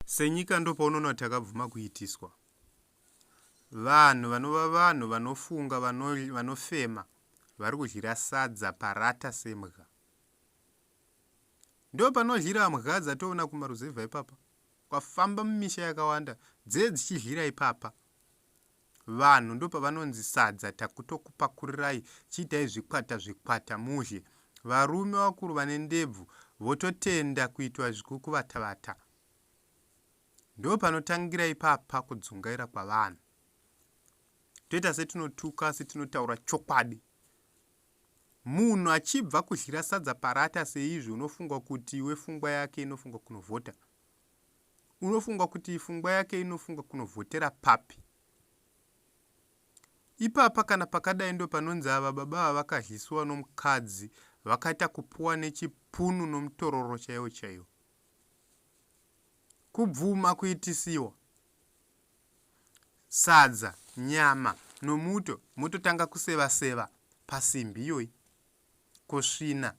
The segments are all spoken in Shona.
Senyika ndopaunoona kuti takabvuma kuitiswa. Vanhu vanova vanhu vanofunga vano, vanofema vari kudyira sadza parata sembwa. Ndo panodyira mbwa dzatoona kumaruzevha ipapa kwafamba mumisha yakawanda dzee dzichidyira ipapa vanhu ndopavanonzi sadza takutokupakurirai chiitai zvikwata zvikwata mudye varume vakuru vane ndebvu vototenda kuitwa zvekukuvatavata ndopanotangira ipapa kudzungaira kwavanhu toita setinotuka asi tinotaura chokwadi munhu achibva kudyira sadza parata seizvi unofunga kuti iwe fungwa yake inofunga kunovhota unofunga kuti fungwa yake inofunga kunovhotera papi ipapa kana pakadai ndo panonzi ava baba vavakadyisiwa nomukadzi vakaita kupuwa nechipunu nomutororo chaiwo chaiwo kubvuma kuitisiwa sadza nyama nomuto mototanga kuseva seva pasimbi iyoyi kusvina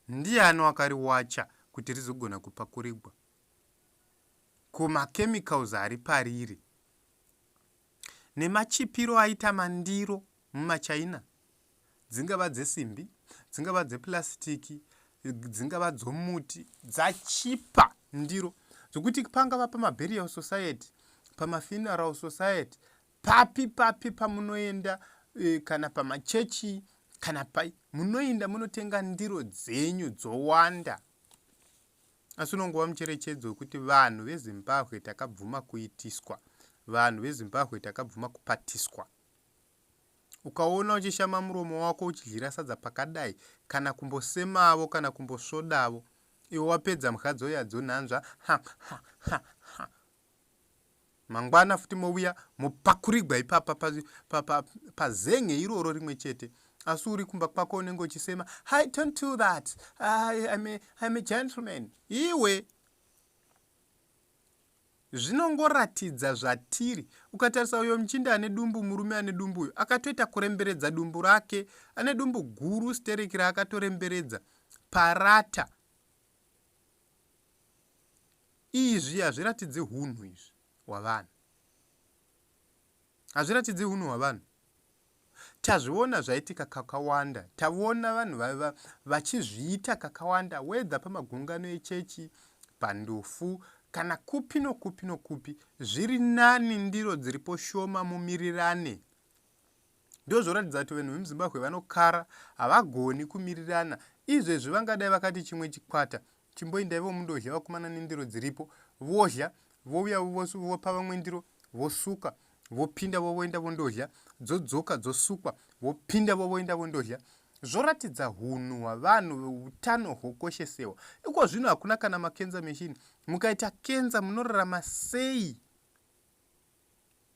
Ndiani wakariwacha kuti rizogona kupakurigwa? Ko machemicals ari pariri nemachipiro aita mandiro mumachaina dzingava dzesimbi dzingava dzeplasitiki dzingava dzomuti dzachipa ndiro zvokuti pangava pamaburial society pamafuneral society Papi papi pamunoenda e, kana pamachechi kana pai munoinda munotenga ndiro dzenyu dzowanda asi unongova mucherechedzo wekuti vanhu vezimbabwe takabvuma kuitiswa vanhu vezimbabwe takabvuma kupatiswa ukaona uchishama muromo wako uchidyira sadza pakadai kana kumbosemavo kana kumbosvodavo iwe wapedza mhadzo yadzo nhanzva mangwana futi mouya mopakurigwa ipapa pazenge iroro rimwe chete asi uri kumba kwako unenge uchisema hi don't do that im a gentleman iwe zvinongoratidza zvatiri ukatarisa uyo muchindi ane dumbu murume ane dumbu uyo akatoita kuremberedza dumbu rake ane dumbu guru stereki raakatoremberedza parata Izvi hazviratidzi hunhu izvi hwavanhu. Hazviratidzi hunhu hwavanhu. Tazviona zvaitika kakawanda. Tavona vanhu vaiva vachizviita kakawanda wedha pamagungano echechi, pandufu kana kupi nokupi nokupi. Zviri nani ndiro dziripo shoma mumirirane ndozvoratidza kuti vanhu vemuzimbabwe vanokara havagoni kumirirana izvezvi vangadai vakati chimwe chikwata chimboindai vomundodya vakumana nendiro dziripo vodya vouya vopa vamwe ndiro vosuka vopinda vovoenda vondodya dzodzoka dzosukwa vopinda vovoenda vondodya zvoratidza hunhu hwavanhu utano hwokoshesewa iko zvino hakuna kana makenza machine mukaita kenza munorarama sei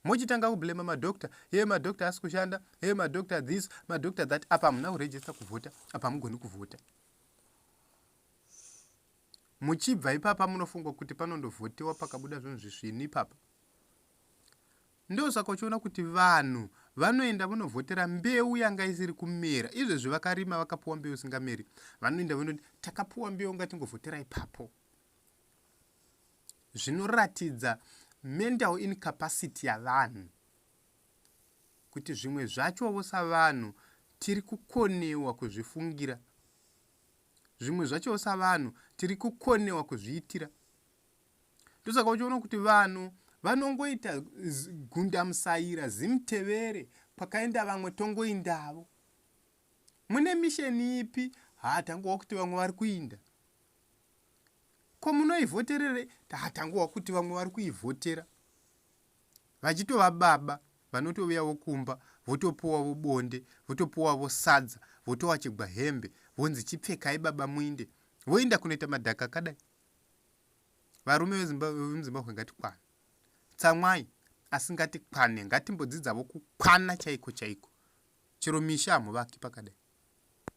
mochitanga kublema madoctor hee madoctor asi kushanda hee madoctor this madoctor that apa hamuna kurejista kuvhota apa hamugoni kuvhota muchibva ipapa munofunga kuti panondovhotewa pakabuda zvinhu zvisvini ipapa ndosaka uchiona kuti vanhu vanoenda vonovhotera mbeu yanga isiri kumera izvezvi vakarima vakapuwa mbeu singameri vanoenda vonoti takapuwa mbeu ngatingovhotera ipapo zvinoratidza mental incapacity yavanhu kuti zvimwe zvachovo savanhu tiri kukonewa kuzvifungira zvimwe zvachovo savanhu tiri kukonewa kuzviitira ndosaka uchiona kuti vanhu vanongoita gundamusaira zimutevere pakaenda vamwe tongoindavo mune misheni ipi hatangowa kuti vamwe vari kuinda ko munoivhoterere tatangohwa kuti vamwe vari kuivhotera vachitova baba vanotouyavo kumba votopuwavo bonde votopuwavo sadza votowachegwa hembe vonzi chipfekai baba muinde voenda kunoita madhaka akadai varume vemuzimbabwe ngatikwane tsamwai asi ngatikwane ngatimbodzidzavo kukwana chaiko chaiko chero misha hamuvaki pakadai